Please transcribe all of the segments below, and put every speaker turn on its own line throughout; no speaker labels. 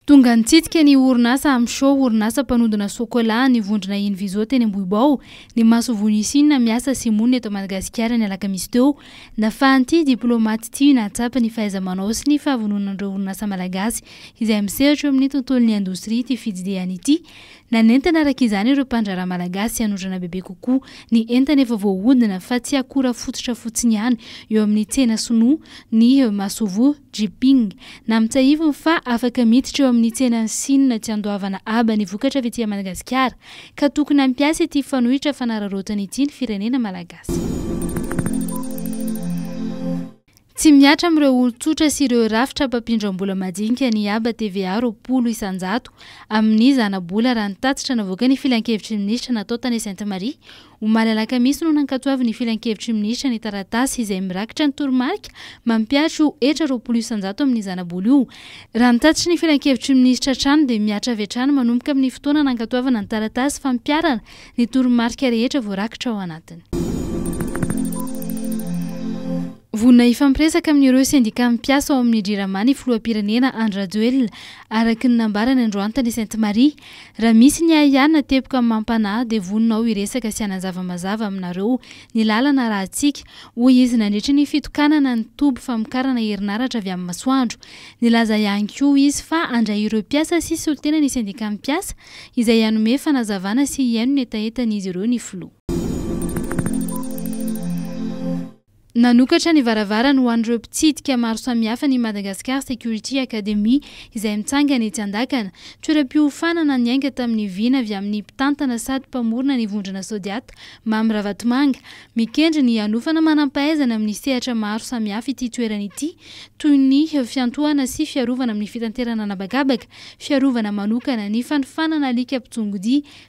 Tonga nitsidika ny orinasa Amsho, orinasa mpanodina sôkôlà an'ny vondrona Inviso teny Ambohibao, ny masoivoho Nisina miasa sy monina eto Madagasikara ny alakamisy teo. Nafahan'ity diplaomaty ity nahatsapa ny fahaiza-manao sy ny fahavononan'ireo orinasa malagasy izay misehatra eo amin'ny tontolon'ny indostria ity fitsidihany ity. Nanentana araka izany ireo mpandraharaha malagasy hanodrana bebe kokoa ny entana efa voahodina fa tsy akora fototra fotsiny ihany eo amin'ny tsena sinoa ny masoivoho. Jiping, Nampitsiahiviny fa afaka miditra eo amin'ny tsenan'i Sina tsy andoavana aba ny vokatra avy aty Madagasikara, ka tokony hampiasa ity fanohitra fanararaotana ity ny firenena malagasy. Tsy mihatra amin'ireo olon-tsotra sy ireo rafitra mpampindram-bola majinika ny haba TVA roapolo isan-jato amin'ny zana-bola raha ny tatitra navoakan'ny filankevitry ny minisitra natao tany Sainte Marie Omaly alakamisy no nankatoavin'ny filankevitry ny minisitra ny taratasy izay mirakitra ny toromarika mampihatra ho hetra roapolo isanjato amin'ny zanabola io. Raha ny tatitry ny filankevitry ny minisitra hatrany dia mihatra avy hatrany manomboka amin'ny fotoana nankatoavana ny taratasy fampiharana ny toromarika rehetra voarakitra ao anatiny. Vonona hifampiresaka amin'ireo sendikà mpiasa ao amin'ny Jirama ny filoham-pirenena Andry Rajoelina, araka ny nambarany androantany Sainte Marie. Raha misy ny ahiahy na teboka amin'ny maha-mpanahy dia vonona aho hiresaka sy hanazava mazava aminareo ny lalana rahantsika, hoy izy nandritra ny fitokanana ny toby famokarana herinaratra avy amin'ny masoandro. Nilaza ihany koa izy fa handray ireo mpiasa sy solontena ny sendikan'ny mpiasa izay hanome fanazavana sy hihaino ny hetahetan'izy ireo ny filoha. Nanokatra ny varavarany ho an'ireo mpitsidika maro samihafa ny Madagascar Security Academy izay mitsangana etsy Andakana. Toeram-piofanana niainga tamin'ny vina avy amin'ny mpitantana sady mpamorona ny vondrona Sodiat, Mamy Ravatomanga. Mikendry ny hanofana manam-pahaizana amin'ny sehatra maro samihafa ity toerana ity toy ny fiantohana sy fiarovana amin'ny fitanterana an'habakabaka, fiarovana manokana, ny fanofanana alika mpitsongo-dia,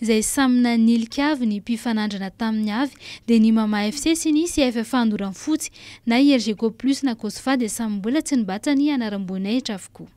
izay samy nanilika avy ny mpifanandrina taminy avy dia ny Mama FC sy ny CFFA Andoranfotsy, na i Elgeco Plus na Cosfa dia samy mbola tsy nibatsa ny anaram-boninahitra avokoa.